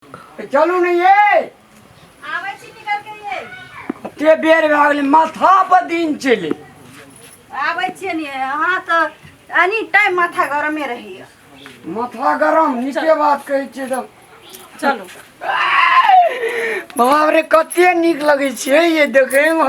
ए, चलू ने ये आबै छी निकल के ये कते बेर भए गेलै माथा पर दिन चले आबै छियै ने अहाँ तऽ एनी टाइम माथा गरमे रहैया माथा गरम नीके बात कहै छियै तऽ चलू बाप रे कते नीक लगै छै ये देखैमे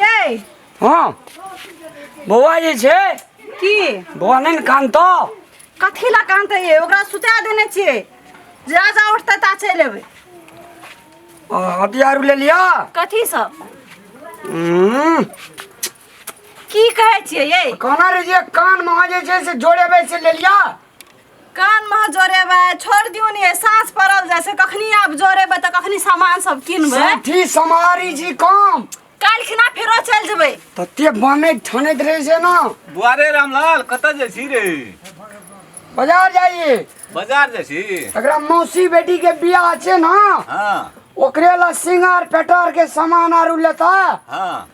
यै हँ बौआ जे छै की बौआ नहि ने कानतो कथी लए कानते ये ओकरा सुता देने छियै जा जा उठते ता चलि एबै आ, हथियार ले लिअ कथी सब हम्म, की कहै छियै यै कहना रे जे कान में जे छै से जोड़ेबै से ले लिअ कान मह जोरेबै छोड़ दियौ ने साँस पड़ल जाइ छै कखनी आब जोरेबै तऽ कखनी सामान सब किनबै सेठी समारी जी काम काल्हि खिना फेरो चलि जेबै तते बनैत ठनैत रहै छै ने बुआरे रामलाल कतऽ जाइ छी रे बाजार जाइए बाजार जाइ छी एकरा मौसी बेटी के बियाह छै ने हँ ओकरे ला सिंगार पेटार के सामान आरू लेता हँ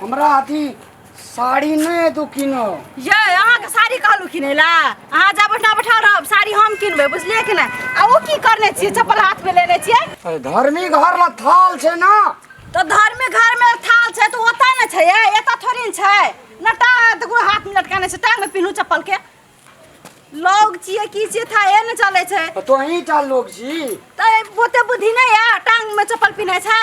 हमरा अथी साड़ी नहि तू किनो ये अहाँके साड़ी कहलहुँ किनै लए अहाँ जा बैठा बैठा रहब साड़ी हम किनबै बुझलियै कि नहि आ ओ की करने छियै चप्पल हाथमे लेने छियै अरे धर्मी घर ल थाल छै ना तऽ धर्मे घरमे थाल छै तऽ ओतऽ ने छै ये एतऽ थोड़ी ने छै न टा देखू हाथमे लटकाने छै टांगमे पिन्हू चप्पलके लोग छियै की छियै था ए ने चलै छै तो ही टा लोग छी तऽ ओते बुद्धि नहि यऽ टांगमे चप्पल पिन्है छै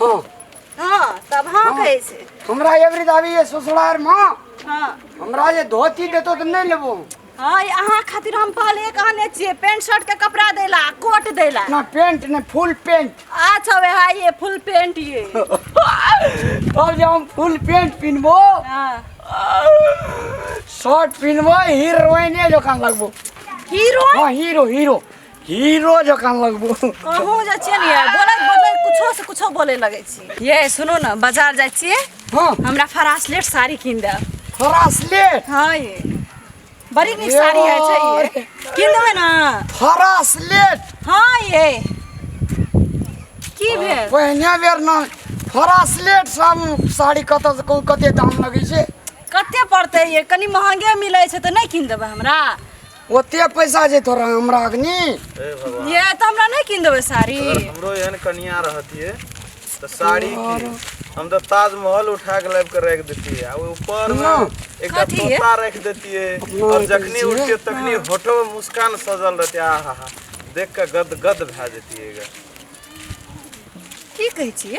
हाँ हाँ तब हाँ हाँ। कहे से हमरा एवरी दावी ये ससुरार माँ हाँ हमरा ये धोती देतो तो नहीं लेबो हाँ ये अहाँ खातिर हम पहले कहने छिए पेंट शर्ट के कपड़ा देला कोट देला ना पेंट ने फुल पेंट अच्छा वे हाँ ये फुल पेंट ये अब जब हम फुल पेंट पिनबो हाँ शर्ट पिनबो हीरोइन जो कान लगबो हीरो हाँ हीरो हीरो हीरो जकाँ लगबो अहूँ जे छियै ने यै, बोलैत बोलैत कुछो से कुछो बोले लगै छी ये सुनू ने बाजार जाइ छियै हाँ हमरा फरासलेट साड़ी कीन देब फरासलेट हाँ ये बड़ी नीक साड़ी है छै ये कीन देबै ने फरासलेट हाँ ये की भेल पहिने बेर ने फरासलेट सब साड़ी कतऽ से कोन कते दाम लगै छै कते पड़तै ये कनी महंगे मिलै छै तऽ नहि कीन देबै हमरा ओते पैसा जे तोरा हमरा अग्नि हे भगवान ये तो हमरा नहीं किन देबे साड़ी अगर हमरो एहन कनिया रहतिए तो साड़ी की हम तो ताजमहल उठा के लाइब के रख देतिए आ ऊपर ना। एक कथी है? तोता रख देतिए अपना और जखनी दीजिए। उठते तखनी होठो में मुस्कान सजल रहते आ हा हा देख के गद गद भए जतिएगा की कहै छी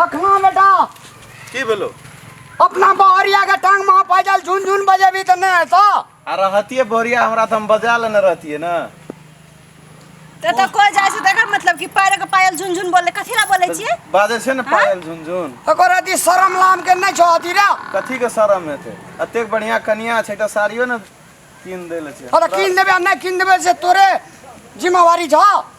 लखना बेटा की भेलो अपना बहरिया के टांग में पैदल झुनझुन बजेबी त नहीं ऐसा आ रहतिए बोरिया हमरा तो हम बजा लेने रहतिए ना ते तो कोई जाय से देखा मतलब कि पैर के पायल झुनझुन बोले कथी ला बोले छिए बाजे से ना पायल झुनझुन ओकर अति शरम लाम के नहीं छो अति रे कथी के शरम हेते अतेक बढ़िया कनिया छै त साड़ियो ने कीन देले छै अरे किन देबे आ नहीं किन देबे से तोरे जिम्मेवारी छ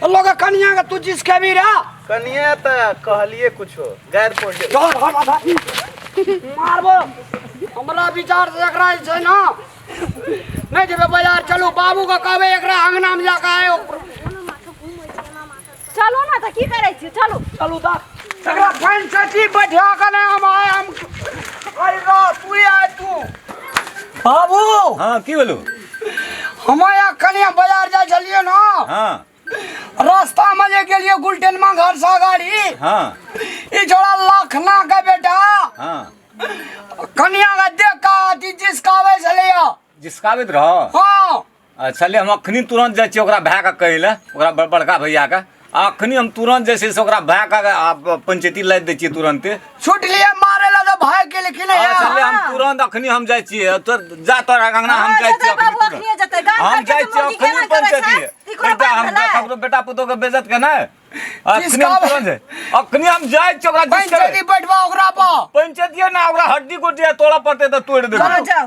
तो लोग कनिया का तू जिस कभी रा कनिया त कहलिए कुछो गैर पड़ गेल डर हट आधा मारबो हमरा विचार से एकरा जे छै ना नहीं जेबे बाजार चलू बाबू के कहबे एकरा अंगना में जाके आयो चलू ना तऽ की करै छी चलू चलू दा तकरा फाइन सची बैठा के ने हम आए हम आई रा तू ही आए तू बाबू हाँ की बोलू हम यहाँ कनिया बाजार जाए छलिए ना हाँ रास्ता में जे गेलिए गुलटेन में घर से गाड़ी हाँ ई जोड़ा लखना के बेटा हाँ कनिया के देख का अथी जिसकावे छलिए जिसकावित रहो हाँ आ छलै हम एखनि तुरन्त जाइ छियै ओकरा भायके कहै लए ओकरा बड़- बड़का भैयाके आ एखनि हम तुरन्त जे छै से ओकरा भायके आ पंचायती लादि दै छियै तुरन्ते छूट लिए मारे ला तो भाग के लेकिन आ यार छलै हम तुरन्त एखनि हम जाइ छियै तो जा तोरा अंगना हम जाइ छियै एखनि तुरन्त। हम जाइ छियै एखनि पंचायती बेटा हम ककरो बेटा पुतोहके बेइज्जत के नहि एखनि हम तुरन्त जाइ एखनि हम जाइ छियै ओकरा जिस पंचायती बैठवा ओकरा पर पंचायतिये ना ओकरा हड्डी गोटी तोड़ा पड़ते तऽ तोड़ि देबै चलो जाओ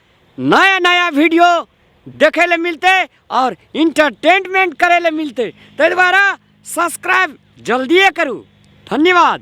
नया नया वीडियो देखे ले मिलते और इंटरटेनमेंट करे ले मिलते ताहि दुआरे सब्सक्राइब जल्दिए करू धन्यवाद